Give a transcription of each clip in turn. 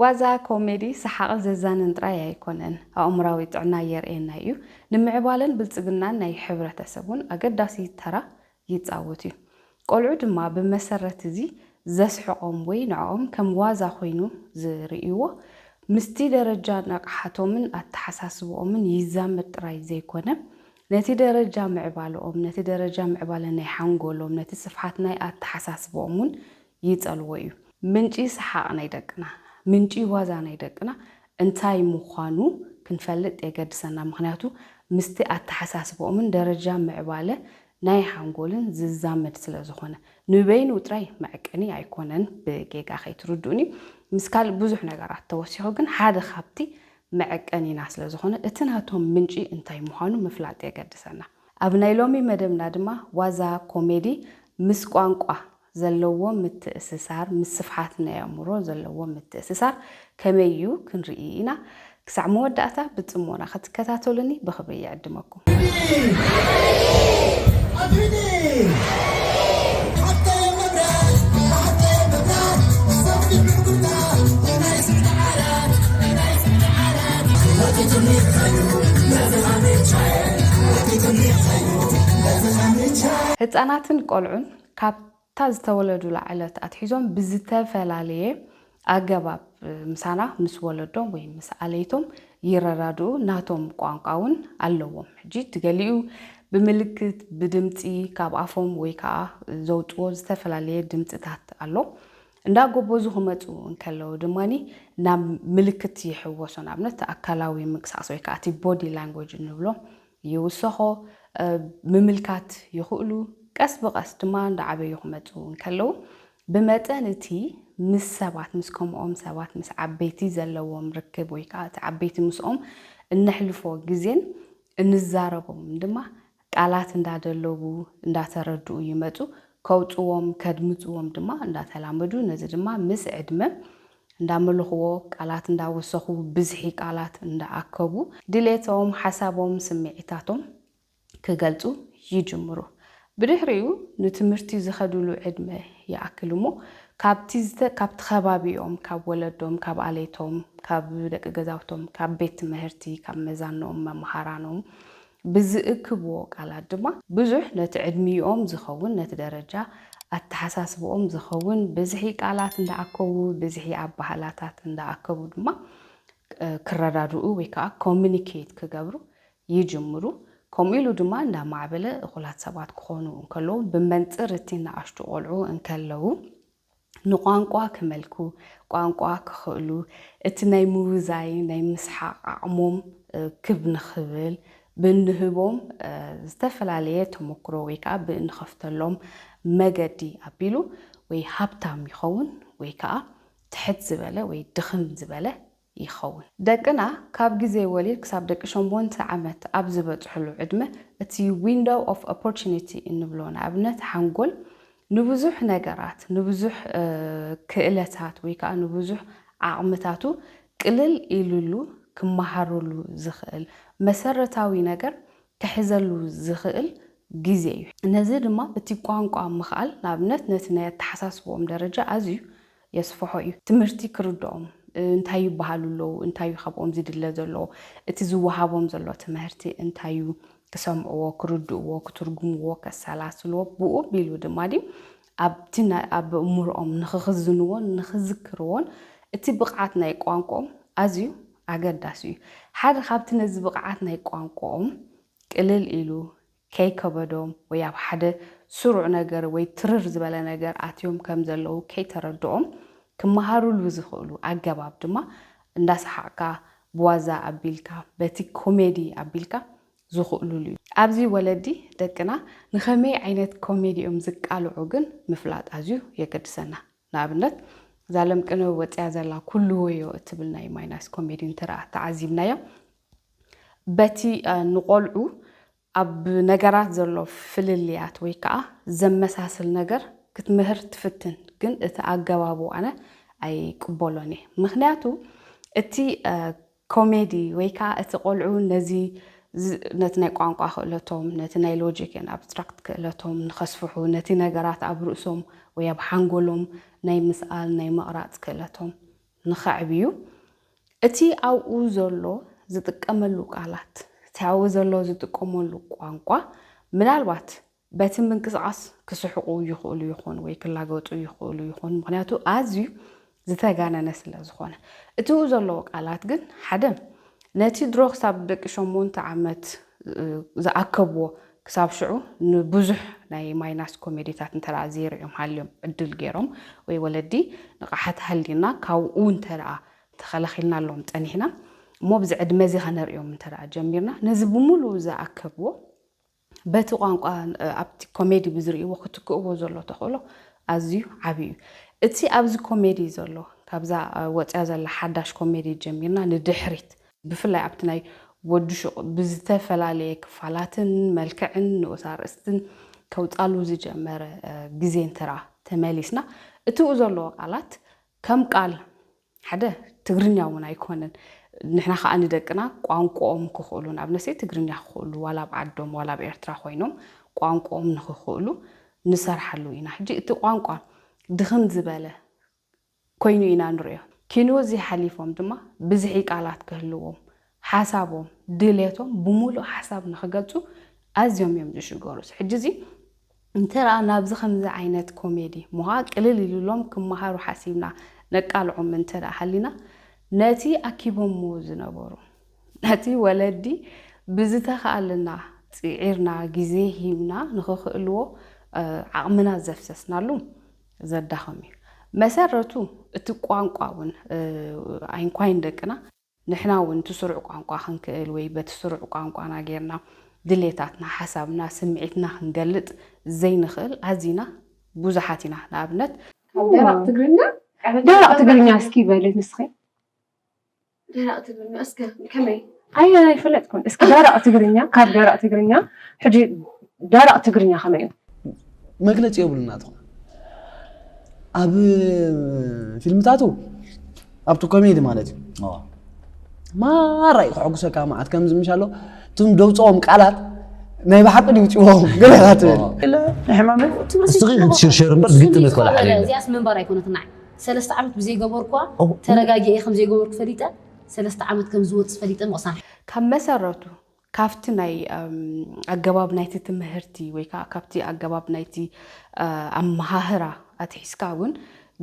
ዋዛ ኮሜዲ ሰሓቕን ዘዛንን ጥራይ ኣይኮነን፣ ኣእምሮኣዊ ጥዕና የርእየና እዩ፣ ንምዕባለን ብልጽግናን ናይ ሕብረተሰብ ውን ኣገዳሲ ተራ ይጻወት እዩ። ቆልዑ ድማ ብመሰረት እዚ ዘስሕቖም ወይ ንዕኦም ከም ዋዛ ኮይኑ ዝርእይዎ ምስቲ ደረጃ ንቕሓቶምን ኣተሓሳስብኦምን ይዛመድ ጥራይ ዘይኮነ ነቲ ደረጃ ምዕባለኦም፣ ነቲ ደረጃ ምዕባለ ናይ ሓንጎሎም፣ ነቲ ስፍሓት ናይ ኣተሓሳስብኦም ውን ይጸልዎ እዩ። ምንጪ ሰሓቕ ናይ ደቅና፣ ምንጪ ዋዛ ናይ ደቅና እንታይ ምዃኑ ክንፈልጥ የገድሰና፣ ምኽንያቱ ምስቲ ኣተሓሳስባኦምን ደረጃ ምዕባለ ናይ ሓንጎልን ዝዛመድ ስለ ዝኾነ። ንበይኑ ጥራይ መዐቀኒ ኣይኮነን፣ ብጌጋ ከይትርድኡኒ፣ ምስ ካልእ ብዙሕ ነገራት ተወሲኹ ግን ሓደ ካብቲ መዐቀኒና ስለ ዝኾነ እቲ ናቶም ምንጪ እንታይ ምዃኑ ምፍላጥ የገድሰና። ኣብ ናይ ሎሚ መደብና ድማ ዋዛ፣ ኮሜዲ፣ ምስ ቋንቋ ዘለዎም ምትእስሳር፣ ምስ ስፍሓት ናይ ኣእምሮ ዘለዎም ምትእስሳር ከመይ እዩ ክንርኢ ኢና። ክሳዕ መወዳእታ ብጽሞና ክትከታተሉኒ ብኽብሪ ይዕድመኩም። ህጻናትን ቆልዑን ካብታ ዝተወለዱላ ዕለት ኣትሒዞም ብዝተፈላለየ ኣገባብ ምሳና፣ ምስ ወለዶም ወይ ምስ ኣለይቶም ይረዳድኡ፣ ናቶም ቋንቋ እውን ኣለዎም። ሕጂ እቲ ገሊኡ ብምልክት፣ ብድምጺ፣ ካብ ኣፎም ወይ ከኣ ዘውጽዎ ዝተፈላለየ ድምጽታት ኣሎ። እንዳጎበዙ ክመጹ እንከለዉ ድማ ናብ ምልክት ይሕወሱ፣ ንኣብነት ኣካላዊ ምንቅስቓስ ወይ ከኣ እቲ ቦዲ ላንጉጅ እንብሎ ይውሰኾ ምምልካት ይኽእሉ፣ ቀስ ብቐስ ድማ እንዳዓበዩ ክመጹ እንከለዉ ብመጠን እቲ ምስ ሰባት ምስ ከምኦም ሰባት ምስ ዓበይቲ ዘለዎም ርክብ ወይ ከኣ እቲ ዓበይቲ ምስኦም እነሕልፎ ግዜን እንዛረቦም ድማ ቃላት እንዳደለቡ እንዳተረድኡ ይመጹ ከውጽዎም ከድምጽዎም ድማ እንዳተላመዱ ነዚ ድማ ምስ ዕድመ እንዳመልኹዎ፣ ቃላት እንዳወሰኹ፣ ብዝሒ ቃላት እንዳኣከቡ፣ ድሌቶም፣ ሓሳቦም፣ ስምዒታቶም ክገልጹ ይጅምሩ። ብድሕሪኡ ንትምህርቲ ዝኸድሉ ዕድመ ይኣክል እሞ፣ ካብቲ ዝተ ካብቲ ከባቢኦም፣ ካብ ወለዶም፣ ካብ ኣለይቶም፣ ካብ ደቂ ገዛውቶም፣ ካብ ቤት ትመህርቲ፣ ካብ መዛኖም፣ መማሃራኖም፣ ብዝእክብዎ ቃላት ድማ ብዙሕ ነቲ ዕድሚኦም ዝኸውን ነቲ ደረጃ ኣተሓሳስብኦም ዝኸውን ብዝሒ ቃላት እንዳኣከቡ ብዝሒ ኣባህላታት እንዳኣከቡ ድማ ክረዳድኡ ወይ ከኣ ኮሙኒኬት ክገብሩ ይጅምሩ። ከምኡ ኢሉ ድማ እንዳማዕበለ እኹላት ሰባት ክኾኑ እንከለዉ ብመንጽር እቲ ናኣሽቱ ቆልዑ እንከለዉ ንቋንቋ ክመልኩ፣ ቋንቋ ክኽእሉ፣ እቲ ናይ ምውዛይ ናይ ምስሓቕ ዓቕሞም ክብ ንኽብል ብእንህቦም ዝተፈላለየ ተሞክሮ ወይ ከኣ ብእንኸፍተሎም መገዲ ኣቢሉ ወይ ሃብታም ይኸውን ወይ ከኣ ትሕት ዝበለ ወይ ድኽም ዝበለ ይኸውን። ደቅና ካብ ግዜ ወሊድ ክሳብ ደቂ ሸሞንተ ዓመት ኣብ ዝበጽሑሉ ዕድመ፣ እቲ ዊንዶው ኦፍ ኦፖርቹኒቲ እንብሎ ንኣብነት ሓንጎል ንብዙሕ ነገራት፣ ንብዙሕ ክእለታት ወይ ከኣ ንብዙሕ ዓቕምታቱ ቅልል ኢሉሉ ክመሃረሉ ዝኽእል መሰረታዊ ነገር ክሕዘሉ ዝኽእል ግዜ እዩ። ነዚ ድማ እቲ ቋንቋ ምኽኣል ንኣብነት ነቲ ናይ ኣተሓሳስባኦም ደረጃ ኣዝዩ የስፍሖ እዩ። ትምህርቲ ክርድኦም፣ እንታይ ይበሃሉ ኣለዉ፣ እንታይ እዩ ካብኦም ዝድለ ዘሎ፣ እቲ ዝወሃቦም ዘሎ ትምህርቲ እንታይ እዩ፣ ክሰምዕዎ፣ ክርድእዎ፣ ክትርጉምዎ፣ ከሰላስልዎ፣ ብኡ ኣቢሉ ድማ ድዩ ኣብቲ ኣብ ኣእምሮኦም ንኽኽዝንዎን ንኽዝክርዎን እቲ ብቕዓት ናይ ቋንቋኦም ኣዝዩ ኣገዳሲ እዩ። ሓደ ካብቲ ነዚ ብቕዓት ናይ ቋንቋኦም ቅልል ኢሉ ከይከበዶም ወይ ኣብ ሓደ ስሩዕ ነገር ወይ ትርር ዝበለ ነገር ኣትዮም ከም ዘለዉ ከይተረድኦም ክመሃሩሉ ዝኽእሉ ኣገባብ ድማ እንዳሰሓቕካ፣ ብዋዛ ኣቢልካ፣ በቲ ኮሜዲ ኣቢልካ ዝኽእሉሉ እዩ። ኣብዚ ወለዲ ደቅና ንኸመይ ዓይነት ኮሜዲ እዮም ዝቃልዑ ግን ምፍላጥ ኣዝዩ የገድሰና። ንኣብነት እዛ ለምቅነ ወጺኣ ዘላ ኩሉዎዮ እትብል ናይ ማይናስ ኮሜዲ እንተደኣ ተዓዚብናያ በቲ ንቖልዑ ኣብ ነገራት ዘሎ ፍልልያት ወይ ከኣ ዘመሳስል ነገር ክትምህር ትፍትን ግን እቲ ኣገባቡ ኣነ ኣይቅበሎን እየ ምክንያቱ እቲ ኮሜዲ ወይ ከኣ እቲ ቆልዑ ነዚ ነቲ ናይ ቋንቋ ክእለቶም ነቲ ናይ ሎጂክ ኤንድ ኣብስትራክት ክእለቶም ንኸስፍሑ ነቲ ነገራት ኣብ ርእሶም ወይ ኣብ ሓንጎሎም ናይ ምስኣል ናይ ምቕራጽ ክእለቶም ንኸዕብዩ እቲ ኣብኡ ዘሎ ዝጥቀመሉ ቃላት እቲ ኣብኡ ዘሎ ዝጥቀመሉ ቋንቋ ምናልባት በቲ ምንቅስቓስ ክስሕቑ ይኽእሉ ይኾኑ ወይ ክላገጡ ይኽእሉ ይኾኑ፣ ምኽንያቱ ኣዝዩ ዝተጋነነ ስለ ዝኾነ። እቲኡ ዘለዎ ቃላት ግን ሓደ ነቲ ድሮ ክሳብ ደቂ ሸሞንተ ዓመት ዝኣከብዎ ክሳብ ሽዑ ንብዙሕ ናይ ማይናስ ኮሜዲታት እንተ ዘይርኦም ሃልዮም ዕድል ገይሮም ወይ ወለዲ ንቕሓት ሃልዩና ካብኡ እንተ ተኸላኺልናሎም ጸኒሕና እሞ ብዚ ዕድመ እዚ ከነርእዮም እንተ ጀሚርና ነዚ ብምሉኡ ዝኣከብዎ በቲ ቋንቋ ኣብቲ ኮሜዲ ብዝርእይዎ ክትክእዎ ዘሎ ተኽእሎ ኣዝዩ ዓብዪ እዩ። እቲ ኣብዚ ኮሜዲ ዘሎ ካብዛ ወፅያ ዘላ ሓዳሽ ኮሜዲ ጀሚርና ንድሕሪት፣ ብፍላይ ኣብቲ ናይ ወዲ ሹቕ ብዝተፈላለየ ክፋላትን መልክዕን ንኡስ ኣርእስትን ከውፃሉ ዝጀመረ ግዜ እንትርኣ ተመሊስና እቲኡ ዘለዎ ቃላት ከም ቃል ሓደ ትግርኛ ውን ኣይኮነን ንሕና ከኣ ንደቅና ቋንቁኦም ክኽእሉ ንኣብነትሰይ ትግርኛ ክኽእሉ ዋላ ኣብ ዓዶም ዋላ ኣብ ኤርትራ ኮይኖም ቋንቁኦም ንኽኽእሉ ንሰርሓሉ ኢና ሕጂ እቲ ቋንቋ ድኽም ዝበለ ኮይኑ ኢና ንርእዮ ኪንወዚ ሓሊፎም ድማ ብዝሒ ቃላት ክህልዎም ሓሳቦም ድሌቶም ብምሉእ ሓሳብ ንኽገልጹ ኣዝዮም እዮም ዝሽገሩስ ሕጂ እዚ እንተደኣ ናብዚ ከምዚ ዓይነት ኮሜዲ ምዃ ቅልል ኢሉሎም ክመሃሩ ሓሲብና ነቃልዖም እንተደኣ ሃሊና ነቲ ኣኪቦምዎ ዝነበሩ ነቲ ወለዲ ብዝተኻእለና ጽዒርና ግዜ ሂብና ንኽኽእልዎ ዓቕምና ዘፍሰስናሉ ዘዳኽም እዩ መሰረቱ እቲ ቋንቋ እውን ኣይንኳይን ደቅና ንሕና እውን እቲ ስሩዕ ቋንቋ ክንክእል ወይ በቲ ስሩዕ ቋንቋና ጌርና ድሌታትና፣ ሓሳብና፣ ስምዒትና ክንገልጽ ዘይንኽእል ኣዚና ብዙሓት ኢና። ንኣብነት። ካብ ደረቕ ትግርኛ ቀረብ። ደረቕ ትግርኛ እስኪ በሊ ንስኺ። ደረቕ ትግርኛ እስከ ከመይ። ኣይ ኣይፈለጥኩን እስኪ ደረቕ ትግርኛ ካብ ደረቕ ትግርኛ ሕጂ ደረቕ ትግርኛ ከመይ እዩ። መግለጺ የብሉን ናትኩም ኣብ ፊልምታቱ ኣብቲ ኮሜዲ ማለት እዩ اه ማራ እዩ ከሐጉሰካ መዓት ከምዚ ምሽ ኣሎ እቶም ደውፅኦም ቃላት ናይ ብሓቂ ድዩ ውፅዎም ገለካ ትብል ኢለ ናይ ሕማም ንስኺ ክትሽርሸር እምበር ዝግጥም ይኮነ ሓደ የለን። እዚኣስ ምንባር ኣይኮነትን ንዓይ ሰለስተ ዓመት ብዘይገበርኩዋ ኦ። ተረጋጊኤ ከም ዘይገበርኩ ፈሊጠ ሰለስተ ዓመት ከም ዝወፅእ ፈሊጠ ምቕሳን ካብ መሰረቱ ካብቲ ናይ ኣገባብ ናይቲ ትምህርቲ ወይ ከዓ ካብቲ ኣገባብ ናይቲ ኣመሃህራ ኣትሒዝካ እውን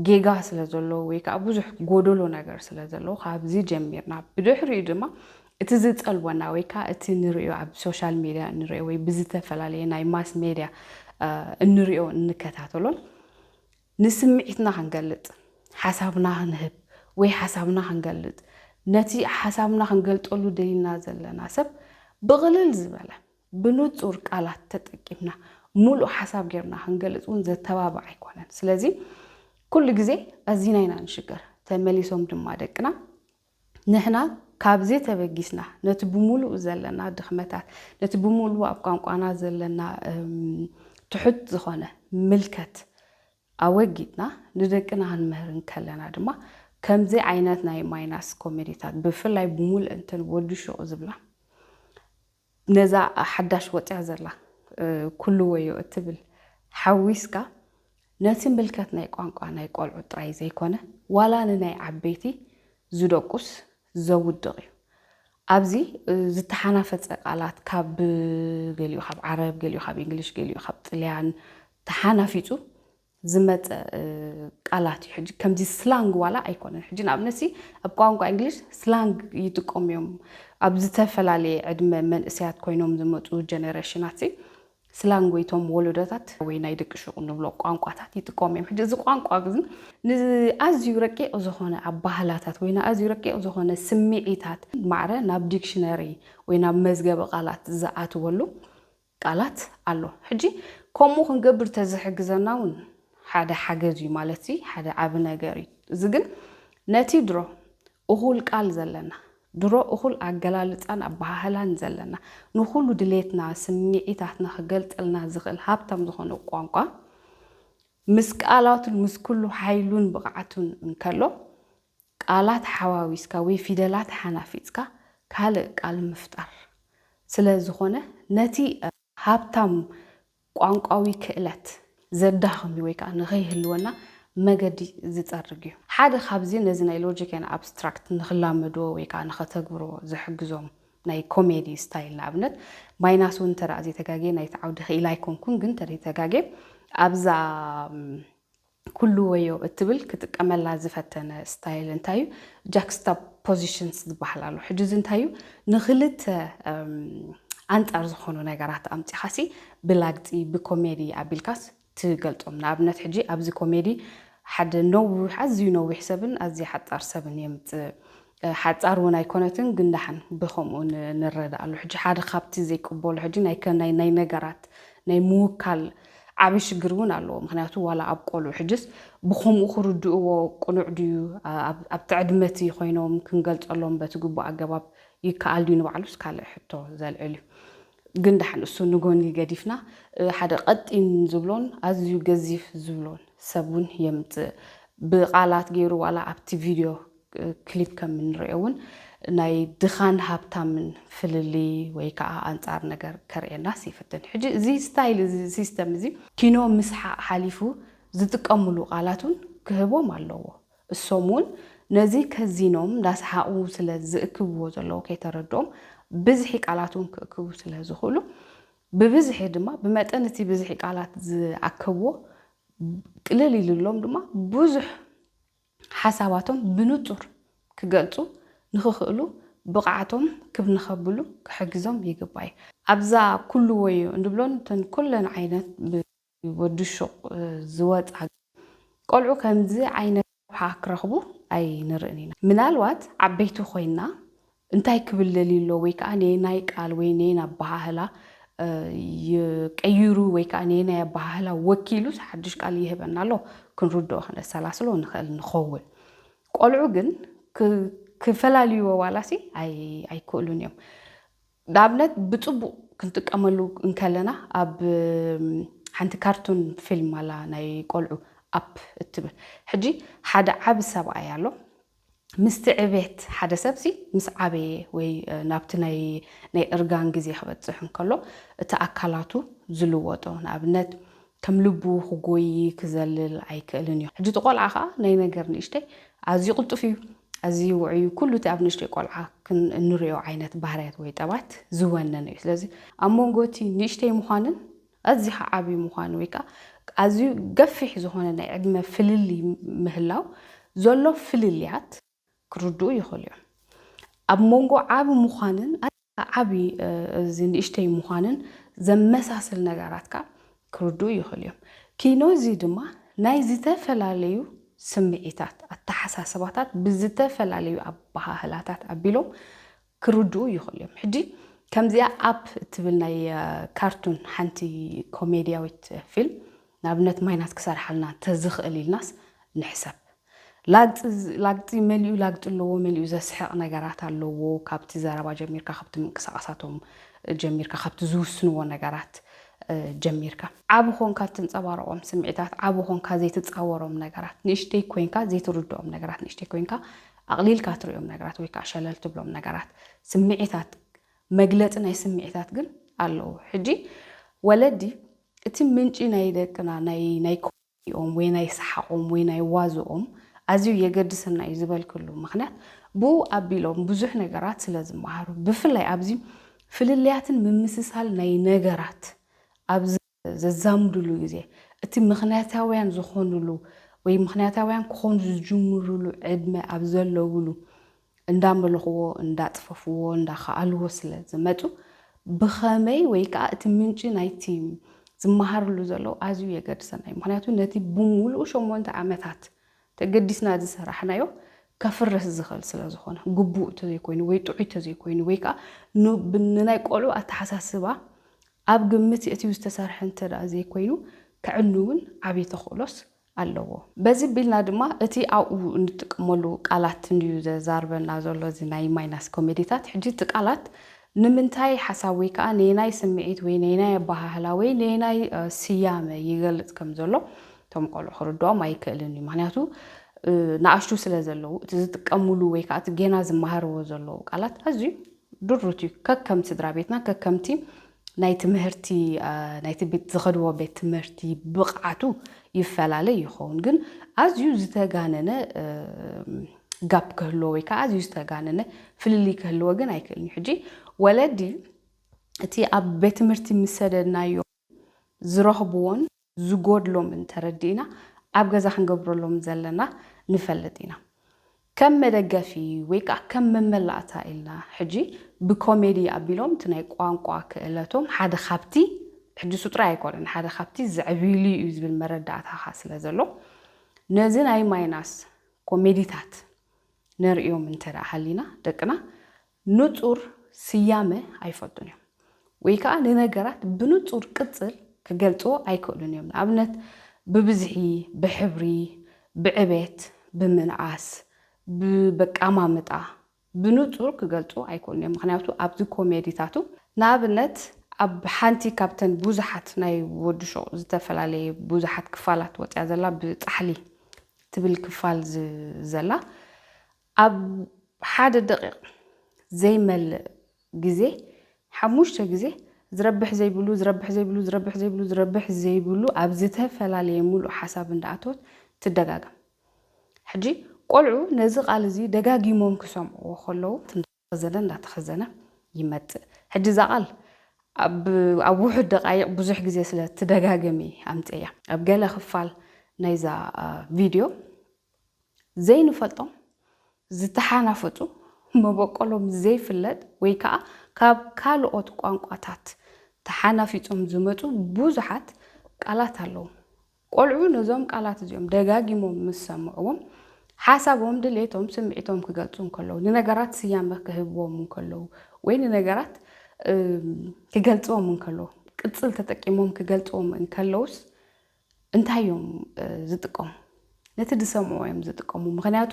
ጌጋ ስለ ዘለዎ ወይ ከዓ ብዙሕ ጎደሎ ነገር ስለ ዘለዎ ካብዚ ጀሚርና ብድሕሪኡ ድማ እቲ ዝጸልወና ወይ ከዓ እቲ ንሪኦ ኣብ ሶሻል ሜድያ እንሪኦ ወይ ብዝተፈላለየ ናይ ማስ ሜድያ እንሪኦ እንከታተሎን ንስምዒትና ክንገልጽ ሓሳብና ክንህብ ወይ ሓሳብና ክንገልጽ ነቲ ሓሳብና ክንገልጸሉ ደሊና ዘለና ሰብ ብቕልል ዝበለ ብንጹር ቃላት ተጠቂምና ምሉእ ሓሳብ ጌርና ክንገልጽ እውን ዘተባብዕ ኣይኮነን። ስለዚ ኩሉ ግዜ ኣዚና ኢና ንሽገር። ተመሊሶም ድማ ደቅና ንሕና ካብዚ ተበጊስና ነቲ ብምሉኡ ዘለና ድኽመታት፣ ነቲ ብምሉኡ ኣብ ቋንቋና ዘለና ትሑት ዝኾነ ምልከት ኣወጊድና ንደቅና ክንምህር እንከለና ድማ ከምዚ ዓይነት ናይ ማይናስ ኮሜዲታት ብፍላይ ብምሉእንተን ወዲ ሹቕ ዝብላ ነዛ ሓዳሽ ወጽያ ዘላ ኩሉ ወዮ እትብል ሓዊስካ ነቲ ምልከት ናይ ቋንቋ ናይ ቆልዑ ጥራይ ዘይኮነ ዋላ ንናይ ዓበይቲ ዝደቁስ ዘውድቕ እዩ። ኣብዚ ዝተሓናፈጸ ቃላት ካብ ገሊኡ ካብ ዓረብ ገሊኡ ካብ ኢንግሊሽ ገሊኡ ካብ ጥልያን ተሓናፊጹ ዝመጸ ቃላት እዩ ሕጂ ከምዚ ስላንግ ዋላ ኣይኮነን ሕጂ ንኣብነት ሲ ኣብ ቋንቋ እንግሊሽ ስላንግ ይጥቀሙ እዮም ኣብ ዝተፈላለየ ዕድመ መንእሰያት ኮይኖም ዝመጹ ጀነሬሽናት ሲ ስላንግ ወይ ቶም ወለዶታት ወይ ናይ ደቂ ሹቕ ንብሎ ቋንቋታት ይጥቀሙ እዮም ሕጂ እዚ ቋንቋ ግን ንኣዝዩ ረቂቕ ዝኾነ ኣባህላታት ወይ ንኣዝዩ ረቂቕ ዝኾነ ስምዒታት ማዕረ ናብ ዲክሽነሪ ወይ ናብ መዝገበ ቃላት ዝኣትወሉ ቃላት ኣሎ ሕጂ ከምኡ ክንገብር ተዝሕግዘና ውን ሓደ ሓገዝ ዩ ማለት ሓደ ዓቢ ነገር ዩ እዚ ግን ነቲ ድሮ እኹል ቃል ዘለና ድሮ እኹል ኣገላልጻን ኣበሃህላን ዘለና ንኹሉ ድሌትና ስምዒታትና ክገልጸልና ዝኽእል ሃብታም ዝኾነ ቋንቋ ምስ ቃላቱን ምስ ኩሉ ሓይሉን ብቕዓቱን እንከሎ ቃላት ሓዋዊስካ ወይ ፊደላት ሓናፊጽካ ካልእ ቃል ምፍጣር ስለ ዝኾነ ነቲ ሃብታም ቋንቋዊ ክእለት ዘዳኽም እዩ ወይ ከኣ ንኸይህልወና መገዲ ዝጸርግ እዩ። ሓደ ካብዚ ነዚ ናይ ሎጂክ ኤን ኣብስትራክት ንኽላመድዎ ወይ ከኣ ንኸተግብርዎ ዝሕግዞም ናይ ኮሜዲ ስታይል ንኣብነት ማይናስ እውን እንተ ዘይተጋግየ ናይቲ ዓውዲ ክኢላ ኣይኮንኩን ግን እንተ ዘይተጋግየ ኣብዛ ኩሉ ወዮ እትብል ክጥቀመላ ዝፈተነ ስታይል እንታይ እዩ? ጃክስታፖዚሽንስ ዝበሃል ኣሎ። ሕጂ እዚ እንታይ እዩ? ንኽልተ ኣንጻር ዝኾኑ ነገራት ኣምጺኻሲ ብላግጺ ብኮሜዲ ኣቢልካስ ትገልጾም። ንኣብነት ሕጂ ኣብዚ ኮሜዲ ሓደ ነዊሕ ኣዝዩ ነዊሕ ሰብን ኣዝያ ሓጻር ሰብን የምጽእ። ሓጻር ውን ኣይኮነትን ግን ዳሓን ብከምኡ ንረዳኣሉ ሕጂ ሓደ ካብቲ ዘይቅበሎ ሕጂ ናይ ናይ ነገራት ናይ ምውካል ዓቢ ሽግር ውን ኣለዎ ምክንያቱ ዋላ ኣብ ቆልዑ ሕጅስ ብከምኡ ክርድእዎ ቅኑዕ ድዩ ኣብቲ ዕድመቲ ኮይኖም ክንገልጸሎም በቲ ግቡእ ኣገባብ ይከኣል ድዩ ንባዕሉስ ካልእ ሕቶ ዘልዕል እዩ ግን ዳሓን እሱ ንጎኒ ገዲፍና ሓደ ቀጢን ዝብሎን ኣዝዩ ገዚፍ ዝብሎን ሰብ ውን የምጽእ ብቃላት ጌሩ ዋላ ኣብቲ ቪድዮ ክሊፕ ከም እንሪኦ እውን ናይ ድኻን ሃብታምን ፍልልይ ወይ ከዓ ኣንፃር ነገር ከርእየናስ ይፍትን። ሕጂ እዚ ስታይል እዚ ሲስተም እዚ ኪኖ ምስሓቕ ሓሊፉ ዝጥቀምሉ ቃላት እውን ክህቦም ኣለዎ። እሶም እውን ነዚ ከዚኖም እንዳሰሓቑ ስለ ዝእክብዎ ዘለዉ ከይተረድኦም ብዝሒ ቃላት እውን ክእክቡ ስለ ዝኽእሉ ብብዝሒ ድማ ብመጠን እቲ ብዝሒ ቃላት ዝኣከብዎ ቅልል ኢልሎም ድማ ብዙሕ ሓሳባቶም ብንጹር ክገልጹ ንክኽእሉ ብቕዓቶም ክብ ንኸብሉ ክሕግዞም ይግባይ። ኣብዛ ኩሉ ወዮ እንብሎን እተን ኩለን ዓይነት ብወዲ ሹቕ ዝወጻ ቆልዑ ከምዚ ዓይነት ረብሓ ክረኽቡ ኣይንርእን ኢና። ምናልባት ዓበይቲ ኮይንና እንታይ ክብል ደልዩ ኣሎ ወይ ከኣ ነየናይ ቃል ወይ ነየናይ ኣበሃህላ እዩ ቀይሩ ወይ ከኣ ነየናይ ኣበሃህላ ወኪሉስ ሓድሽ ቃል ይህበና ኣሎ ክንርድኦ ከነሰላስሎ ንኽእል ንኸውን። ቆልዑ ግን ክፈላልዩዎ ዋላሲ ኣይክእሉን እዮም። ንኣብነት ብጽቡቕ ክንጥቀመሉ እንከለና ኣብ ሓንቲ ካርቱን ፊልም ኣላ ናይ ቆልዑ ኣፕ እትብል ሕጂ ሓደ ዓቢ ሰብኣይ ኣሎ ምስቲ ዕቤት ሓደ ሰብሲ ምስ ዓበየ ወይ ናብቲ ናይ ናይ እርጋን ግዜ ክበጽሕ እንከሎ እቲ ኣካላቱ ዝልወጦ ንኣብነት ከም ልቡ ክጎዪ ክዘልል ኣይክእልን እዩ ሕጂ እቲ ቆልዓ ከኣ ናይ ነገር ንእሽተይ ኣዝዩ ቅልጡፍ እዩ ኣዝዩ ውዑይ እዩ ኩሉ እቲ ኣብ ንእሽተይ ቆልዓ ክን እንርእዮ ዓይነት ባህርያት ወይ ጠባት ዝወነነ እዩ ስለዚ ኣብ መንጎ እቲ ንእሽተይ ምዃንን ኣዝዩ ኸኣ ዓብዩ ምዃኑ ወይ ከኣ ኣዝዩ ገፊሕ ዝኾነ ናይ ዕድመ ፍልልይ ምህላው ዘሎ ፍልልያት ክርድኡ ይኽእሉ እዮም። ኣብ መንጎ ዓቢ ምዃንን ዓቢ እዚ ንእሽተይ ምዃንን ዘመሳስል ነገራት ከኣ ክርድኡ ይኽእሉ እዮም። ኪኖ'ዚ ድማ ናይ ዝተፈላለዩ ስምዒታት፣ ኣተሓሳስባታት ብዝተፈላለዩ ኣበሃህላታት ኣቢሎም ክርድኡ ይኽእሉ እዮም ሕጂ ከምዚኣ ኣፕ እትብል ናይ ካርቱን ሓንቲ ኮሜድያዊት ፊልም ንኣብነት ማይናስ ክሰርሓልና ተዝኽእል ኢልናስ ንሕሰብ ላግጺ መሊኡ ላግጺ ኣለዎ መሊኡ ዘስሕቕ ነገራት ኣለዎ ካብቲ ዘረባ ጀሚርካ ካብቲ ምንቅሳቓሳቶም ጀሚርካ ካብቲ ዝውስንዎ ነገራት ጀሚርካ ዓብ ኾንካ እትንጸባረቖም ስምዒታት ዓብ ኾንካ ዘይትጻወሮም ነገራት ንእሽተይ ኮይንካ ዘይትርድኦም ነገራት ንእሽተይ ኮይንካ ኣቕሊልካ ትርእዮም ነገራት ወይ ከኣ ሸለል ትብሎም ነገራት ስምዒታት መግለጺ ናይ ስምዒታት ግን ኣለዉ። ሕጂ ወለዲ እቲ ምንጪ ናይ ደቅና ናይ ናይ ኮሜዲኦም ወይ ናይ ሰሓቖም ወይ ናይ ዋዝኦም ኣዝዩ የገድሰና እዩ ዝበልክሉ ምኽንያት ብኡ ኣቢሎም ብዙሕ ነገራት ስለ ዝመሃሩ ብፍላይ ኣብዚ ፍልልያትን ምምስሳል ናይ ነገራት ኣብ ዘዛምዱሉ ግዜ፣ እቲ ምኽንያታውያን ዝኾኑሉ ወይ ምኽንያታውያን ክኾኑ ዝጅምሩሉ ዕድመ ኣብ ዘለዉሉ እንዳመለኹዎ፣ እንዳጥፈፉዎ፣ እንዳኸኣሉዎ ስለ ዝመጹ ብኸመይ ወይ ከኣ እቲ ምንጪ ናይቲ ዝመሃርሉ ዘለዉ ኣዝዩ የገድሰና እዩ። ምኽንያቱ ነቲ ብምሉኡ ሸሞንተ ዓመታት ተገዲስና ዝሰራሕናዮ ከፍርስ ዝኽእል ስለ ዝኾነ፣ ግቡእ ተዘይኮይኑ ወይ ጥዑይ ተዘይኮይኑ ወይ ከኣ ንናይ ቆልዑ ኣተሓሳስባ ኣብ ግምት የእትዩ ዝተሰርሐ እንተ ዘይኮይኑ ከዕኑ እውን ዓብዪ ተኽእሎስ ኣለዎ። በዚ ቢልና ድማ እቲ ኣብኡ እንጥቀመሉ ቃላት እንድዩ ዘዛርበና ዘሎ እዚ ናይ ማይናስ ኮሜዲታት። ሕጂ እቲ ቃላት ንምንታይ ሓሳብ ወይ ከኣ ነየናይ ስምዒት ወይ ነየናይ ኣበሃህላ ወይ ነየናይ ስያመ ይገልጽ ከም ዘሎ እቶም ቆልዑ ክርድኦም ኣይክእልን እዩ። ምኽንያቱ ንኣሽቱ ስለ ዘለዉ እቲ ዝጥቀምሉ ወይ ከኣ እቲ ጌና ዝመሃርዎ ዘለዉ ቃላት ኣዝዩ ድሩት እዩ ከከም ስድራ ቤትና ከከምቲ ናይ ትምህርቲ ናይቲ ቤት ዝኸድዎ ቤት ትምህርቲ ብቕዓቱ ይፈላለ ይኸውን ግን ኣዝዩ ዝተጋነነ ጋፕ ክህልዎ ወይ ከዓ ኣዝዩ ዝተጋነነ ፍልልይ ክህልዎ ግን ኣይክእልን እዩ ሕጂ ወለዲ እቲ ኣብ ቤት ትምህርቲ ምስ ሰደድናዮ ዝረኽብዎን ዝጎድሎምን ተረዲእና ኣብ ገዛ ክንገብረሎም ዘለና ንፈልጥ ኢና። ከም መደገፊ ወይ ከኣ ከም መመላእታ ኢልና ሕጂ ብኮሜዲ ኣቢሎም እቲ ናይ ቋንቋ ክእለቶም ሓደ ካብቲ ሕጅሱ ጥራይ ኣይኮነን ሓደ ካብቲ ዘዕብዩሉ እዩ ዝብል መረዳእታኻ ስለ ዘሎ ነዚ ናይ ማይናስ ኮሜዲታት ነርእዮም እንተ ሃሊና ደቅና ንጹር ስያመ ኣይፈልጡን እዮም ወይ ከኣ ንነገራት ብንጹር ቅጽል ክገልጽዎ ኣይክእሉን እዮም፣ ንኣብነት ብብዝሒ፣ ብሕብሪ፣ ብዕቤት፣ ብምንኣስ፣ ብበቃማምጣ፣ ብንጹር ክገልጹዎ ኣይክእሉን እዮም ምኽንያቱ ኣብዚ ኮሜዲታቱ ንኣብነት ኣብ ሓንቲ ካብተን ብዙሓት ናይ ወዲ ሹቕ ዝተፈላለየ ብዙሓት ክፋላት ወጽያ ዘላ ብጻሕሊ ትብል ክፋል ዘላ ኣብ ሓደ ደቒቕ ዘይመልእ ግዜ ሓሙሽተ ግዜ ዝረብሕ ዘይብሉ ዝረብሕ ዘይብሉ ዝረብሕ ዘይብሉ ዝረብሕ ዘይብሉ ኣብ ዝተፈላለየ ምሉእ ሓሳብ እንዳኣተወት ትደጋገም። ሕጂ ቆልዑ ነዚ ቃል እዚ ደጋጊሞም ክሰምዕዎ ከለዉ። ኸዘነ እንዳተኸዘነ ይመጽእ ሕጂ እዛ ቃል ኣብ ኣብ ውሑድ ደቃይቅ ብዙሕ ግዜ ስለ ትደጋገም እየ ኣምጽኤያ ኣብ ገለ ክፋል ናይዛ ቪድዮ ዘይንፈልጦም ዝተሓናፈጹ መበቆሎም ዘይፍለጥ ወይ ከኣ ካብ ካልኦት ቋንቋታት ተሓናፊጾም ዝመጹ ብዙሓት ቃላት ኣለዉ ቆልዑ ነዞም ቃላት እዚኦም ደጋጊሞም ምስ ሰምዕዎም፣ ሓሳቦም፣ ድሌቶም፣ ስምዒቶም ክገልጹ እንከለዉ፣ ንነገራት ስያመ ክህብዎም እንከለዉ ወይ ንነገራት ክገልጽዎም እንከለዉ፣ ቅጽል ተጠቂሞም ክገልጽዎም እንከለዉስ እንታይ እዮም ዝጥቀሙ? ነቲ ዝሰምዕዎ እዮም ዝጥቀሙ። ምኽንያቱ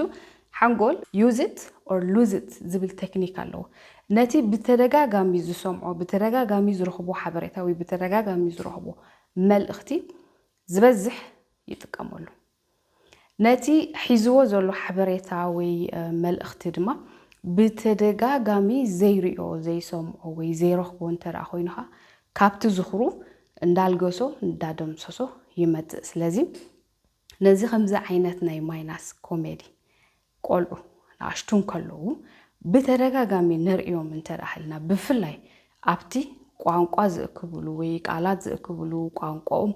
ሓንጎል use it or lose it ዝብል ቴክኒክ ኣለዎ። ነቲ ብተደጋጋሚ ዝሰምዖ፣ ብተደጋጋሚ ዝረኽቦ ሓበሬታ ወይ ብተደጋጋሚ ዝረኽቦ መልእኽቲ ዝበዝሕ ይጥቀመሉ። ነቲ ሒዝዎ ዘሎ ሓበሬታ ወይ መልእኽቲ ድማ ብተደጋጋሚ ዘይሪኦ፣ ዘይሰምዖ ወይ ዘይረኽቦ እንተ ደኣ ኮይኑ ከኣ ካብቲ ዝኽሩ እንዳልገሶ እንዳደምሰሶ ይመጽእ። ስለዚ ነዚ ከምዚ ዓይነት ናይ ማይናስ ኮሜዲ ቆልዑ ንኣሽቱ እንከለዉ ብተደጋጋሚ ንርእዮም እንተደኣሃልና ብፍላይ ኣብቲ ቋንቋ ዝእክብሉ ወይ ቃላት ዝእክብሉ ቋንቋኦም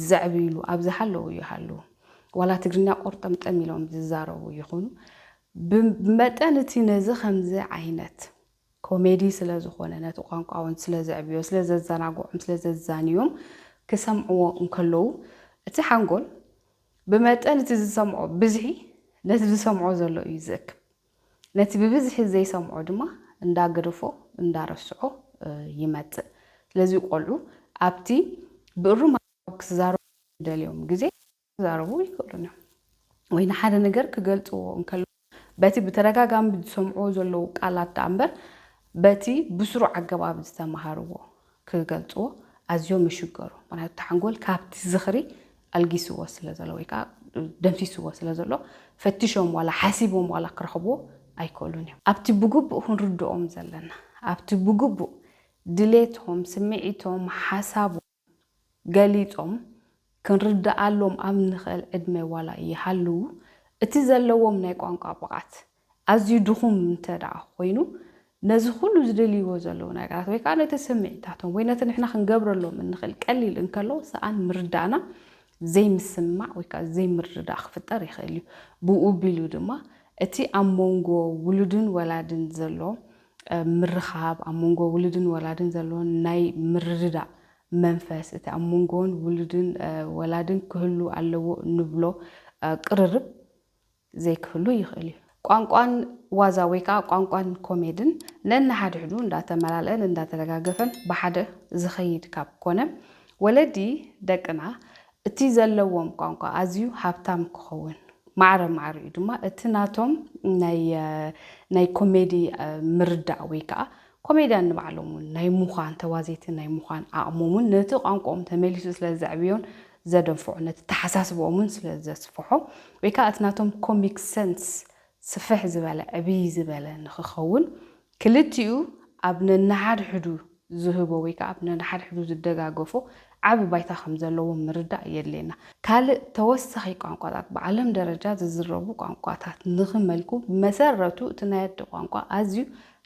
ዘዕብይሉ ኣብ ዝሃለዉ ይሃልዉ ዋላ ትግርኛ ቆርጠምጠም ኢሎም ዝዛረቡ ይኹኑ ብመጠን እቲ ነዚ ከምዚ ዓይነት ኮሜዲ ስለዝኾነ ነቲ ቋንቋውን ስለዘዕብዮ ስለዘዘናግዖም ስለዘዛንዮም ክሰምዕዎ እንከለዉ እቲ ሓንጎል ብመጠን እቲ ዝሰምዖ ብዝሒ ነቲ ዝሰምዖ ዘሎ እዩ ዝእክብ። ነቲ ብብዝሒ ዘይሰምዖ ድማ እንዳገደፎ እንዳረስዖ ይመጽእ። ስለዚ ቆልዑ ኣብቲ ብእሩም ኣገባብ ክዛረቡ ኣብ ዝደልዮም ግዜ ክዛረቡ ኣይክእሉን እዮም። ወይ ንሓደ ነገር ክገልጽዎ እንከለዉ በቲ ብተደጋጋሚ ዝሰምዕዎ ዘለዉ ቃላት ደኣ እምበር በቲ ብስሩዕ ኣገባብ ዝተመሃርዎ ክገልጽዎ ኣዝዮም ይሽገሩ። ምኽንያቱ እቲ ሓንጎል ካብቲ ዝኽሪ ኣልጊስዎ ስለ ዘሎ ወይ ከኣ ደምሲስዎ ስለ ዘሎ ፈቲሾም ዋላ ሓሲቦም ዋላ ክረኽብዎ ኣይክእሉን እዮም። ኣብቲ ብግቡእ ክንርድኦም ዘለና፣ ኣብቲ ብግቡእ ድሌቶም፣ ስምዒቶም፣ ሓሳቦም፣ ገሊጾም ክንርድኣሎም ኣብ እንኽእል ዕድመ ዋላ ይሃልዉ፣ እቲ ዘለዎም ናይ ቋንቋ ብቕዓት ኣዝዩ ድኹም እንተድኣ ኾይኑ፣ ነዚ ኹሉ ዝደልይዎ ዘለዉ ነገራት ወይ ከኣ ነቲ ስምዒታቶም ወይ ነቲ ንሕና ክንገብረሎም እንኽእል ቀሊል እንከሎ ሰኣን ምርዳእና ዘይምስምማዕ ወይ ከኣ ዘይምርድዳእ ክፍጠር ይኽእል እዩ። ብኡ ኣቢሉ ድማ እቲ ኣብ ሞንጎ ውሉድን ወላድን ዘሎ ምርኻብ፣ ኣብ መንጎ ውሉድን ወላድን ዘሎ ናይ ምርድዳእ መንፈስ፣ እቲ ኣብ መንጎን ውሉድን ወላድን ክህሉ ኣለዎ እንብሎ ቅርርብ ዘይክህሉ ይኽእል እዩ። ቋንቋን ዋዛ ወይ ከዓ ቋንቋን ኮሜድን ነንሓድሕዱ እንዳተመላልአን እንዳተደጋገፈን ብሓደ ዝኸይድ ካብ ኮነ፣ ወለዲ ደቅና እቲ ዘለዎም ቋንቋ ኣዝዩ ሃብታም ክኸውን ማዕረ ማዕሪኡ ድማ እቲ ናቶም ናይ ኮሜዲ ምርዳእ ወይ ከኣ ኮሜድያን ንባዕሎም እውን ናይ ምዃን ተዋዘይቲ ናይ ምዃን ዓቕሞም እውን ነቲ ቋንቋኦም ተመሊሱ ስለ ዘዕብዮን ዘደንፍዖ ነቲ ኣተሓሳስባኦም እውን ስለ ዘስፍሖ ወይ ከኣ እቲ ናቶም ኮሚክ ሰንስ ስፍሕ ዝበለ ዕብይ ዝበለ ንኽኸውን ክልቲኡ ኣብ ነንሓድሕዱ ዝህቦ ወይ ከኣ ኣብ ነንሓድሕዱ ዝደጋገፎ ዓቢ ባይታ ከም ዘለዎ ምርዳእ የድልየና። ካልእ ተወሳኺ ቋንቋታት ብዓለም ደረጃ ዝዝረቡ ቋንቋታት ንኽመልኩ ብመሰረቱ እቲ ናይ ኣደ ቋንቋ ኣዝዩ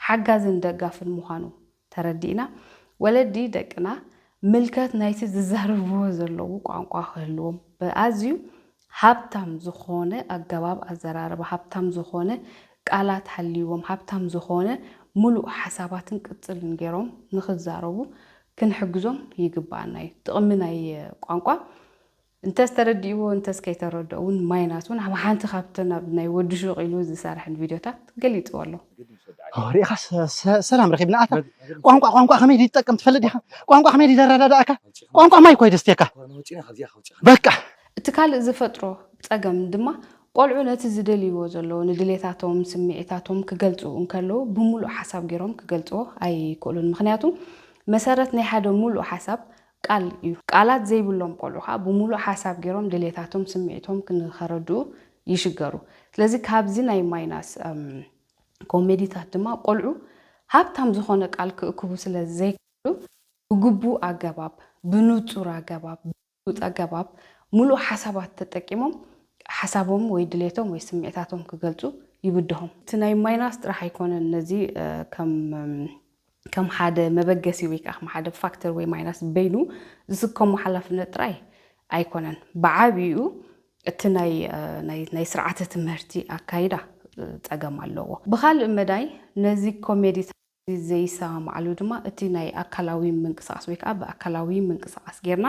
ሓጋዝን ደጋፍን ምዃኑ ተረዲእና ወለዲ ደቅና ምልከት ናይቲ ዝዛረብዎ ዘለዉ ቋንቋ ክህልዎም ብኣዝዩ ሃብታም ዝኾነ ኣገባብ ኣዘራርባ፣ ሃብታም ዝኾነ ቃላት ሃልይዎም፣ ሃብታም ዝኾነ ምሉእ ሓሳባትን ቅጽልን ገይሮም ንኽዛረቡ ክንሕግዞም ይግበኣና እዩ። ጥቕሚ ናይ ቋንቋ እንተስ ተረዲእዎ እንተስ ከይተረድኦ እውን ማይናስ እውን ኣብ ሓንቲ ካብተን ኣብ ናይ ወዲ ሹቕ ኢሉ ዝሰርሐን ቪድዮታት ገሊጽዎ ኣሎ። ኦህ ርኢኻስ ሰላም ረኺብና ኣታ ቋንቋ ቋንቋ ከመይ ድዩ ትጠቅም ትፈልጥ ዲኻ ቋንቋ ከመይ ድዩ ዘረዳድኣካ ቋንቋ ማይ እኮ እዩ ደስትየካ በቃ እቲ ካልእ ዝፈጥሮ ጸገም ድማ ቆልዑ ነቲ ዝደልይዎ ዘለዉ ንድሌታቶም ስምዒታቶም ክገልጹ እንከለዉ ብምሉእ ሓሳብ ጌሮም ክገልጽዎ ኣይክእሉን ምኽንያቱ መሰረት ናይ ሓደ ምሉእ ሓሳብ ቃል እዩ ቃላት ዘይብሎም ቆልዑ ከኣ ብምሉእ ሓሳብ ጌሮም ድሌታቶም ስምዒቶም ንኸረድኡ ይሽገሩ ስለዚ ካብዚ ናይ ማይናስ ኮሜዲታት ድማ ቆልዑ ሃብታም ዝኾነ ቃል ክእክቡ ስለ ዘይክእሉ ብግቡእ ኣገባብ ብንጹር ኣገባብ ብሉጽ ኣገባብ ምሉእ ሓሳባት ተጠቂሞም ሓሳቦም ወይ ድሌቶም ወይ ስምዒታቶም ክገልጹ ይብድሆም። እቲ ናይ ማይናስ ጥራሕ ኣይኮነን ነዚ ከም ከም ሓደ መበገሲ ወይ ከኣ ከም ሓደ ፋክተር ወይ ማይናስ በይኑ ዝስከሞ ሓላፍነት ጥራይ ኣይኮነን። ብዓቢኡ እቲ ናይ ናይ ናይ ስርዓተ ትምህርቲ ኣካይዳ ጸገም ኣለዎ። ብኻልእ መዳይ ነዚ ኮሜዲታት። ዘይሰማማዓሉ ድማ እቲ ናይ ኣካላዊ ምንቅስቃስ ወይ ከኣ ብኣካላዊ ምንቅስቃስ ጌርና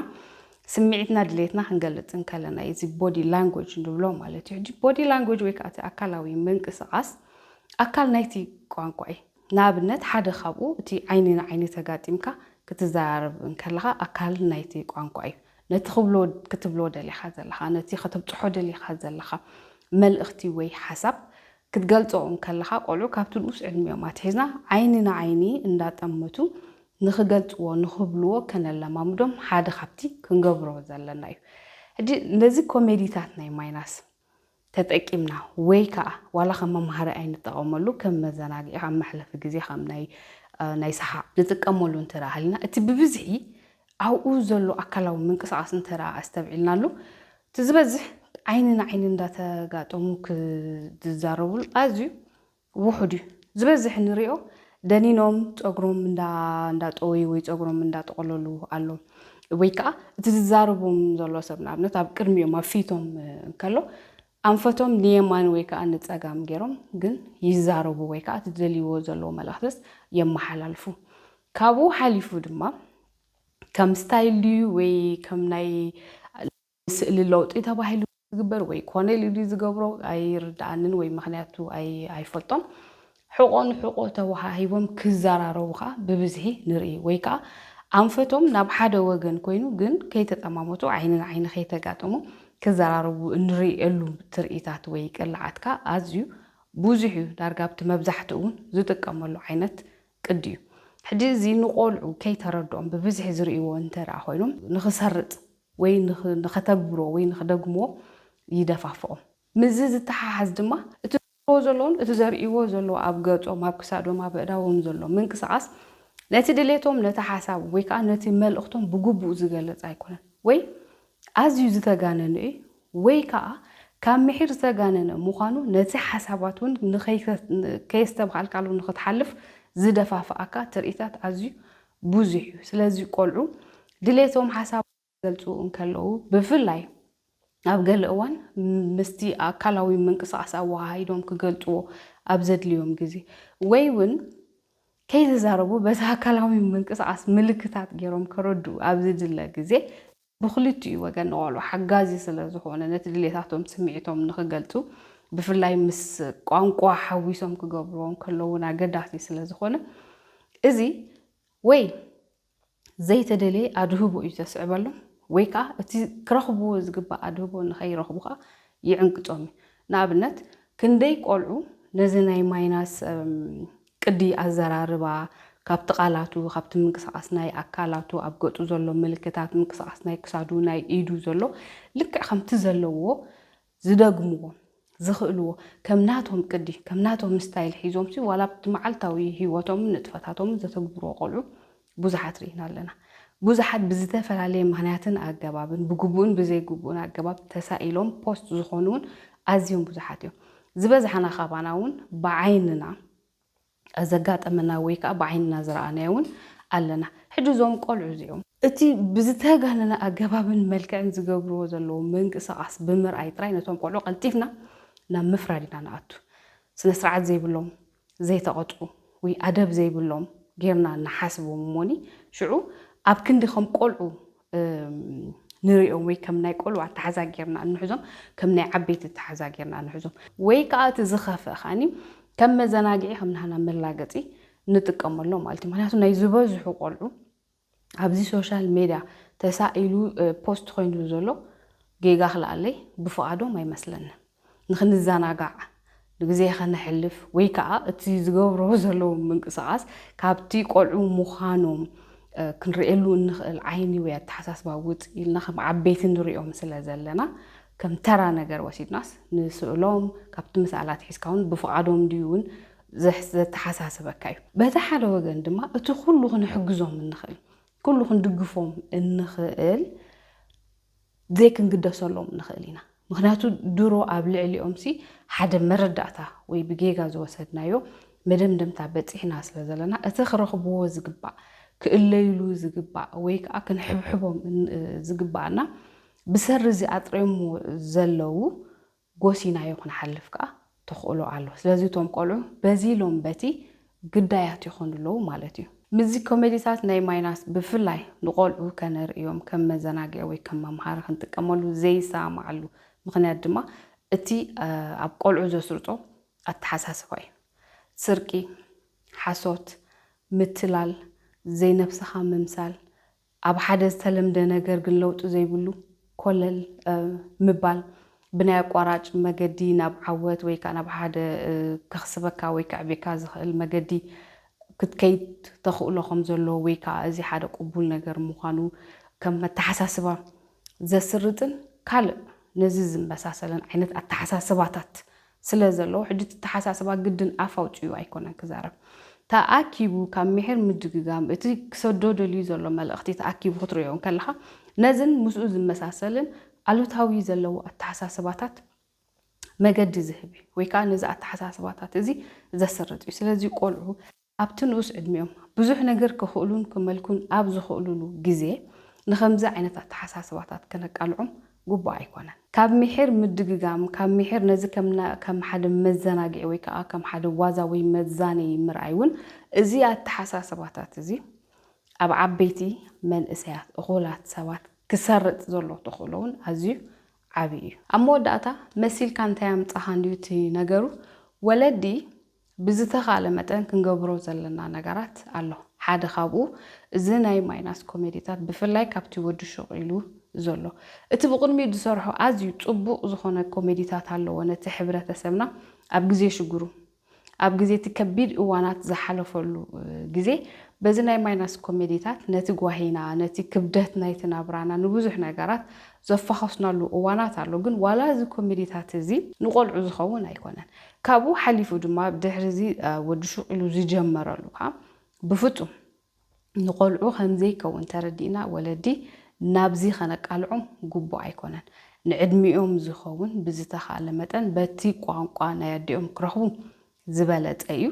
ስሚዒትና ድሌትና ክንገልጽ እንከለና እዩ እዚ ቦዲ ላንጎጅ ንብሎ ማለት እዩ ሕጂ ቦዲ ላንጎጅ ወይ ከኣ እቲ ኣካላዊ ምንቅስቃስ ኣካል ናይቲ ቋንቋ እዩ ንኣብነት ሓደ ካብኡ እቲ ዓይኒ ንዓይኒ ተጋጢምካ ክትዘራረብ እንከለኻ ኣካል ናይቲ ቋንቋ እዩ ነቲ ክብሎ ክትብሎ ደሊኻ ዘለኻ ነቲ ከተብጽሖ ደሊኻ ዘለኻ መልእኽቲ ወይ ሓሳብ ክትገልጾ እንከለኻ ቆልዑ ካብቲ ንኡስ ዕድሚኦም ኣትሒዝና ዓይኒ ንዓይኒ እንዳጠመቱ ንኽገልጽዎ ንኽብልዎ ከነለማምዶም ሓደ ካብቲ ክንገብሮ ዘለና እዩ። ሕጂ ነዚ ኮሜዲታት ናይ ማይናስ ተጠቂምና ወይ ከኣ ዋላ ከም መምሃሪ ኣይንጠቐመሉ ከም መዘናግዒ ከም መሕለፊ ግዜ ከም ናይ ናይ ሰሓቕ ንጥቀመሉ እንተደኣ ሃሊና እቲ ብብዝሒ ኣብኡ ዘሎ ኣካላዊ ምንቅስቓስ እንተድኣ ኣስተብዒልናሉ፣ እቲ ዝበዝሕ ዓይኒ ንዓይኒ እንዳተጋጠሙ ክዝዛረቡሉ ኣዝዩ ውሑድ እዩ። ዝበዝሕ እንሪኦ ደኒኖም ፀጉሮም እንዳጠወዩ ወይ ፀጉሮም እንዳጠቐለሉ ኣሎ ወይ ከዓ እቲ ዝዛረቦም ዘሎ ሰብ ንኣብነት ኣብ ቅድሚኦም ኣብ ፊቶም እንከሎ ኣንፈቶም ንየማን ወይ ከዓ ንፀጋም ገይሮም ግን ይዛረቡ ወይ ከዓ እቲ ዝደልይዎ ዘለዎ መልእኽትስ የመሓላልፉ። ካብኡ ሓሊፉ ድማ ከም ስታይል ድዩ ወይ ከም ናይ ስእሊ ለውጢ ተባሂሉ ዝግበር ወይ ኮኔል ድዩ ዝገብሮ ኣይርድኣንን ወይ ምኽንያቱ ኣይፈልጦን ሕቖ ንሕቖ ተወሃሂቦም ክዘራረቡ ከኣ ብብዝሒ ንርኢ ወይ ከኣ ኣንፈቶም ናብ ሓደ ወገን ኮይኑ ግን ከይተጠማመቱ ዓይኒ ንዓይኒ ከይተጋጠሙ ክዘራረቡ እንርእየሉ ትርኢታት ወይ ቅላዓትካ ኣዝዩ ብዙሕ እዩ ዳርጋ ኣብቲ መብዛሕትኡ እውን ዝጥቀመሉ ዓይነት ቅድ እዩ። ሕጂ እዚ ንቆልዑ ከይተረድኦም ብብዝሒ ዝርእይዎ እንተድኣ ኮይኖም ንኽሰርጽ ወይ ንኸተግብሮ ወይ ንኽደግምዎ ይደፋፍኦም። ምስዚ ዝተሓሓዝ ድማ እቲ ዝገብርዎ ዘለዉን እቲ ዘርእይዎ ዘለዉ ኣብ ገጾም፣ ኣብ ክሳዶም፣ ኣብ ኣእዳዎም ዘሎ ምንቅስቓስ ነቲ ድሌቶም፣ ነቲ ሓሳብ ወይ ከኣ ነቲ መልእኽቶም ብግቡእ ዝገልጽ ኣይኮነን ወይ ኣዝዩ ዝተጋነኑ እዩ ወይ ከኣ ካብ ምሒር ዝተጋነነ ምዃኑ ነቲ ሓሳባት እውን ከየስተብሃልካሉ ንኽትሓልፍ ዝደፋፍኣካ ትርኢታት ኣዝዩ ብዙሕ እዩ። ስለዚ ቆልዑ ድሌቶም ሓሳብ ክገልጹ እንከለዉ ብፍላይ ኣብ ገለ እዋን ምስቲ ኣካላዊ ምንቅስቓስ ኣወሃሂዶም ክገልጽዎ ኣብ ዘድልዮም ግዜ ወይ እውን ከይተዛረቡ በቲ ኣካላዊ ምንቅስቓስ ምልክታት ገይሮም ከረድኡ ኣብ ዝድለ ግዜ፣ ብኽልቲኡ ወገን ንቆልዑ ሓጋዚ ስለ ዝኾነ ነቲ ድሌታቶም ስምዒቶም ንኽገልጹ ብፍላይ ምስ ቋንቋ ሓዊሶም ክገብርዎ እንከለዉ እውን ኣገዳሲ ስለ ዝኾነ እዚ ወይ ዘይተደለየ ኣድህቦ እዩ ዘስዕበሎም ወይ ከዓ እቲ ክረኽብዎ ዝግባእ ኣድህቦ ንኸይረኽቡ ከዓ ይዕንቅፆም እዩ። ንኣብነት ክንደይ ቆልዑ ነዚ ናይ ማይናስ ቅዲ ኣዘራርባ ካብቲ ቃላቱ ካብቲ ምንቅስቓስ ናይ ኣካላቱ ኣብ ገፁ ዘሎ ምልክታት ምንቅስቓስ ናይ ክሳዱ ናይ ኢዱ ዘሎ ልክዕ ከምቲ ዘለዎ ዝደግምዎ ዝኽእልዎ ከም ናቶም ቅዲ ከም ናቶም ስታይል ሒዞምሲ ዋላ ኣብቲ መዓልታዊ ሂወቶምን ንጥፈታቶምን ዘተግብርዎ ቆልዑ ብዙሓት ርኢና ኣለና። ብዙሓት ብዝተፈላለየ ምኽንያትን ኣገባብን ብግቡእን ብዘይግቡእን ኣገባብ ተሳኢሎም ፖስት ዝኾኑ'ውን ኣዝዮም ብዙሓት እዮም። ዝበዝሓና ካባና'ውን ብዓይንና ዘጋጠመና ወይ ከኣ ብዓይንና ዝረኣናዮ እውን ኣለና። ሕጂ እዞም ቆልዑ እዚኦም። እቲ ብዝተጋነነ ኣገባብን መልክዕን ዝገብርዎ ዘለዉ ምንቅስቓስ ብምርኣይ ጥራይ ነቶም ቆልዑ ቀልጢፍና ናብ ምፍራድ ኢና ንኣቱ። ስነ ስርዓት ዘይብሎም፣ ዘይተቐጽዑ ወይ ኣደብ ዘይብሎም ጌርና ንሓስቦም እሞኒ ሽዑ ኣብ ክንዲ ከም ቆልዑ ንርእዮም ወይ ከም ናይ ቆልዑ ኣተሓዛ ጌርና እንሕዞም ከም ናይ ዓበይቲ ኣተሓዛ ጌርና እንሕዞም ወይ ከኣ እቲ ዝኸፍእ ከኣኒ ከም መዘናግዒ ከም ናህና መላገጺ ንጥቀመሎም ማለት እዩ ምክንያቱ ናይ ዝበዝሑ ቆልዑ ኣብዚ ሶሻል ሜድያ ተሳኢሉ ፖስት ኮይኑ ዘሎ ጌጋ ክልኣለይ ብፍቓዶም ኣይመስለንን ንኽንዘናጋዕ ንግዜ ከነሕልፍ ወይ ከኣ እቲ ዝገብርዎ ዘለዉ ምንቅስቓስ ካብቲ ቆልዑ ምዃኖም ክንርእየሉ እንኽእል ዓይኒ ወይ ኣተሓሳስባ ውጽእ ኢልና ከም ዓበይቲ ንርእዮም ስለ ዘለና ከም ተራ ነገር ወሲድናስ ንስእሎም ካብቲ ምስኣላ ኣትሒዝካ እውን ብፍቓዶም ድዩ እውን ዘተሓሳስበካ እዩ። በቲ ሓደ ወገን ድማ እቲ ኩሉ ክንሕግዞም እንኽእል ኩሉ ክንድግፎም እንኽእል ዘይክንግደሰሎም ንኽእል ኢና። ምኽንያቱ ድሮ ኣብ ልዕሊኦምሲ ሓደ መረዳእታ ወይ ብጌጋ ዝወሰድናዮ መደምደምታ በጺሕና ስለ ዘለና እቲ ክረኽብዎ ዝግባእ፣ ክእለዩሉ ዝግባእ ወይ ከኣ ክንሕብሕቦም ዝግባኣና ብሰሪ እዚ ኣጥርዮምዎ ዘለዉ ጎሲናዮ ክንሓልፍ ከኣ ተኽእሎ ኣሎ። ስለዚ እቶም ቆልዑ በዚ ኢሎም በቲ ግዳያት ይኾኑ ኣለዉ ማለት እዩ። ምስዚ ኮሜዲታት ናይ ማይናስ ብፍላይ ንቆልዑ ከነርእዮም ከም መዘናግዒ ወይ ከም መምሃሪ ክንጥቀመሉ ዘይሰማማዓሉ ምኽንያት ድማ እቲ ኣብ ቆልዑ ዘስርጾ ኣተሓሳስባ እዩ። ስርቂ፣ ሓሶት፣ ምትላል፣ ዘይነብስኻ ምምሳል፣ ኣብ ሓደ ዝተለምደ ነገር ግን ለውጢ ዘይብሉ ኮለል ምባል ብናይ ኣቋራጭ መገዲ ናብ ዓወት ወይ ከኣ ናብ ሓደ ከኽስበካ ወይ ከዕብየካ ዝኽእል መገዲ ክትከይድ ተኽእሎ ከም ዘሎ ወይ ከኣ እዚ ሓደ ቅቡል ነገር ምዃኑ ከም መተሓሳስባ ዘስርጽን ካልእ ነዚ ዝመሳሰልን ዓይነት ኣተሓሳስባታት ስለ ዘለዎ ሕጂ እቲ ኣተሓሳስባ ግድን ኣፍ ኣውጺኡ ኣይኮነን ክዛረብ ተኣኪቡ ካብ ምሒር ምድግጋም እቲ ክሰዶ ደልዩ ዘሎ መልእኽቲ ተኣኪቡ ክትርእዮ እንከለኻ ነዝን ምስኡ ዝመሳሰልን ኣሉታዊ ዘለዎ ኣተሓሳስባታት መገዲ ዝህብ እዩ ወይ ከኣ ነዚ ኣተሓሳስባታት እዚ ዘስርጽ እዩ ስለዚ ቆልዑ ኣብቲ ንኡስ ዕድሚኦም ብዙሕ ነገር ክኽእሉን ክመልኩን ኣብ ዝኽእሉሉ ግዜ ንኸምዚ ዓይነት ኣተሓሳስባታት ከነቃልዖም ግቡእ ኣይኮነን። ካብ ምሒር ምድግጋም፣ ካብ ምሒር ነዚ ከም ሓደ መዘናግዒ ወይ ከኣ ከም ሓደ ዋዛ ወይ መዛነዪ ምርኣይ እውን እዚ ኣተሓሳስባታት እዚ ኣብ ዓበይቲ፣ መንእሰያት፣ እኹላት ሰባት ክሰርጽ ዘለዎ ተኽእሎ እውን ኣዝዩ ዓቢ እዩ። ኣብ መወዳእታ መሲልካ እንታይ ኣምጻኻ እንድዩ እቲ ነገሩ፣ ወለዲ፣ ብዝተኻእለ መጠን ክንገብሮ ዘለና ነገራት ኣሎ። ሓደ ካብኡ እዚ ናይ ማይናስ ኮሜዲታት ብፍላይ ካብቲ ወዲ ሹቕ ኢሉ ዘሎ እቲ ብቕድሚኡ ዝሰርሖ ኣዝዩ ጽቡቕ ዝኾነ ኮሜዲታት ኣለዎ ነቲ ሕብረተሰብና ኣብ ግዜ ሽግሩ ኣብ ግዜ እቲ ከቢድ እዋናት ዝሓለፈሉ ግዜ በዚ ናይ ማይናስ ኮሜዲታት ነቲ ጓሂና ነቲ ክብደት ናይቲ ናብራና ንብዙሕ ነገራት ዘፋኾስናሉ እዋናት ኣሎ ግን ዋላ እዚ ኮሜዲታት እዚ ንቖልዑ ዝኸውን ኣይኮነን ካብኡ ሓሊፉ ድማ ድሕሪ እዚ ወዲ ሹቕ ኢሉ ዝጀመረሉ ከኣ ብፍጹም ንቆልዑ ከም ዘይከውን ተረዲእና ወለዲ ናብዚ ከነቃልዖም ግቡእ ኣይኮነን። ንዕድሚኦም ዝኸውን ብዝተኻእለ መጠን በቲ ቋንቋ ናይ ኣዲኦም ክረኽቡ ዝበለጸ እዩ።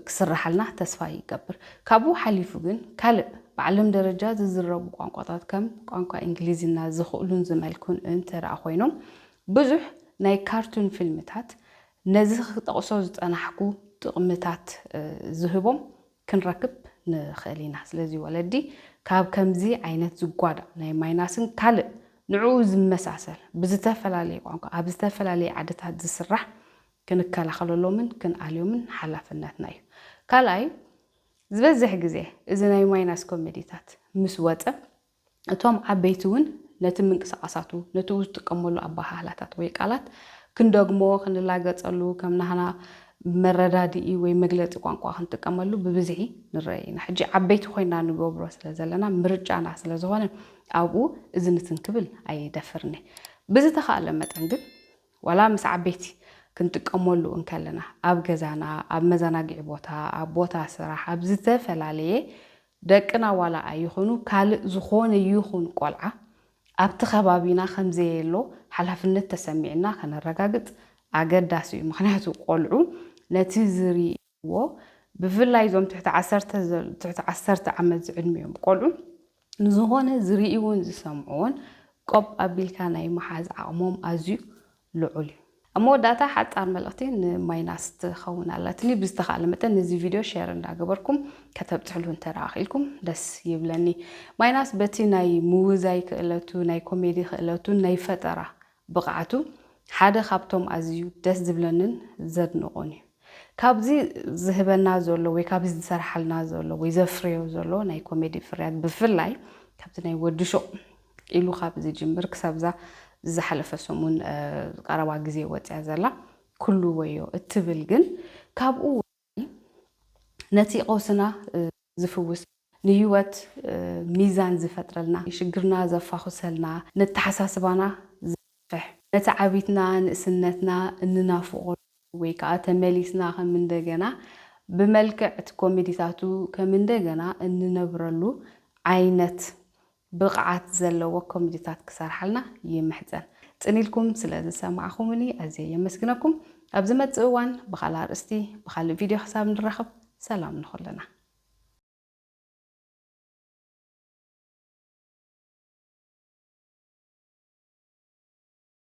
ክስርሓልና ተስፋ ይገብር። ካብኡ ሓሊፉ ግን ካልእ ብዓለም ደረጃ ዝዝረቡ ቋንቋታት ከም ቋንቋ እንግሊዝና ዝኽእሉን ዝመልኩን እንተድኣ ኮይኖም ብዙሕ ናይ ካርቱን ፊልምታት ነዚ ክጠቕሶ ዝጸናሕኩ ጥቕምታት ዝህቦም ክንረክብ ንኽእል ኢና። ስለዚ ወለዲ ካብ ከምዚ ዓይነት ዝጓዳእ ናይ ማይናስን ካልእ ንዕኡ ዝመሳሰል ብዝተፈላለየ ቋንቋ ኣብ ዝተፈላለየ ዓድታት ዝስራሕ ክንከላኸለሎምን ክንኣልዮምን ሓላፍነትና እዩ። ካልኣይ፣ ዝበዝሕ ግዜ እዚ ናይ ማይናስ ኮሚዲታት ምስ ወጸ፣ እቶም ዓበይቲ እውን ነቲ ምንቅስቓሳቱ፣ ነቲ ዝጥቀመሉ ኣበሃህላታት ወይ ቃላት ክንደግሞ፣ ክንላገጸሉ፣ ከም ናህና መረዳድኢ ወይ መግለጺ ቋንቋ ክንጥቀመሉ ብብዝሒ ንረእ ኢና። ሕጂ ዓበይቲ ኮይና ንገብሮ ስለ ዘለና፣ ምርጫና ስለ ዝኾነ፣ ኣብኡ እዚ ንትን ክብል ኣይደፍርን እየ። ብዝተኻእለ መጠን ግን ዋላ ምስ ዓበይቲ ክንጥቀመሉ እንከለና፣ ኣብ ገዛና፣ ኣብ መዘናግዒ ቦታ፣ ኣብ ቦታ ስራሕ፣ ኣብ ዝተፈላለየ ደቅና ዋላ ኣይኹኑ ካልእ ዝኾነ ይኹን ቆልዓ ኣብቲ ከባቢና ከም ዘየሎ ሓላፍነት ተሰሚዕና ከነረጋግጽ ኣገዳሲ እዩ። ምኽንያቱ ቆልዑ ነቲ ዝሪ። ኣለዎ። ብፍላይ እዞም ትሕቲ ዓሰርተ ትሕቲ ዓሰርተ ዓመት ዝዕድሚኦም ቆልዑ ንዝኾነ ዝርእይዎን ዝሰምዕዎን ቆብ ኣቢልካ ናይ ምሓዝ ዓቕሞም ኣዝዩ ልዑል እዩ። ኣብ መወዳእታ ሓጻር መልእኽቲ ንማይናስ ትኸውን ኣላትኒ። ብዝተኻእለ መጠን ነዚ ቪድዮ ሼር እንዳገበርኩም ከተብጽሕሉ እንተ ክኢልኩም ደስ ይብለኒ። ማይናስ በቲ ናይ ምውዛይ ክእለቱ፣ ናይ ኮሜዲ ክእለቱን ናይ ፈጠራ ብቕዓቱ ሓደ ካብቶም ኣዝዩ ደስ ዝብለንን ዘድንቖን እዩ። ካብዚ ዝህበና ዘሎ ወይ ካብዚ ዝሰርሓልና ዘሎ ወይ ዘፍርዮ ዘሎ ናይ ኮሜዲ ፍርያት ብፍላይ ካብቲ ናይ ወዲ ሹቕ ኢሉ ካብ ዝጅምር ክሳብዛ ዝሓለፈ ሰሙን ቀረባ ግዜ ወጽያ ዘላ ኩሉ ወዮ እትብል ግን ካብኡ ነቲ ቐውስና ዝፍውስ፣ ንህይወት ሚዛን ዝፈጥረልና፣ ሽግርና ዘፋኹሰልና፣ ነተሓሳስባና ዘስፍሕ፣ ነቲ ዓቢትና ንእስነትና እንናፍቖ ወይ ከኣ ተመሊስና ከም እንደገና ብመልክዕ እቲ ኮሜዲታቱ ከም እንደገና እንነብረሉ ዓይነት ብቕዓት ዘለዎ ኮሚዲታት ክሰርሓልና ይምሕጸን። ጽን ኢልኩም ስለ ዝሰማዕኹምኒ ኣዝየ የመስግነኩም። ኣብ ዝመጽእ እዋን ብኻልእ ኣርእስቲ ብኻልእ ቪድዮ ክሳብ ንራኸብ ሰላም ንኹልና።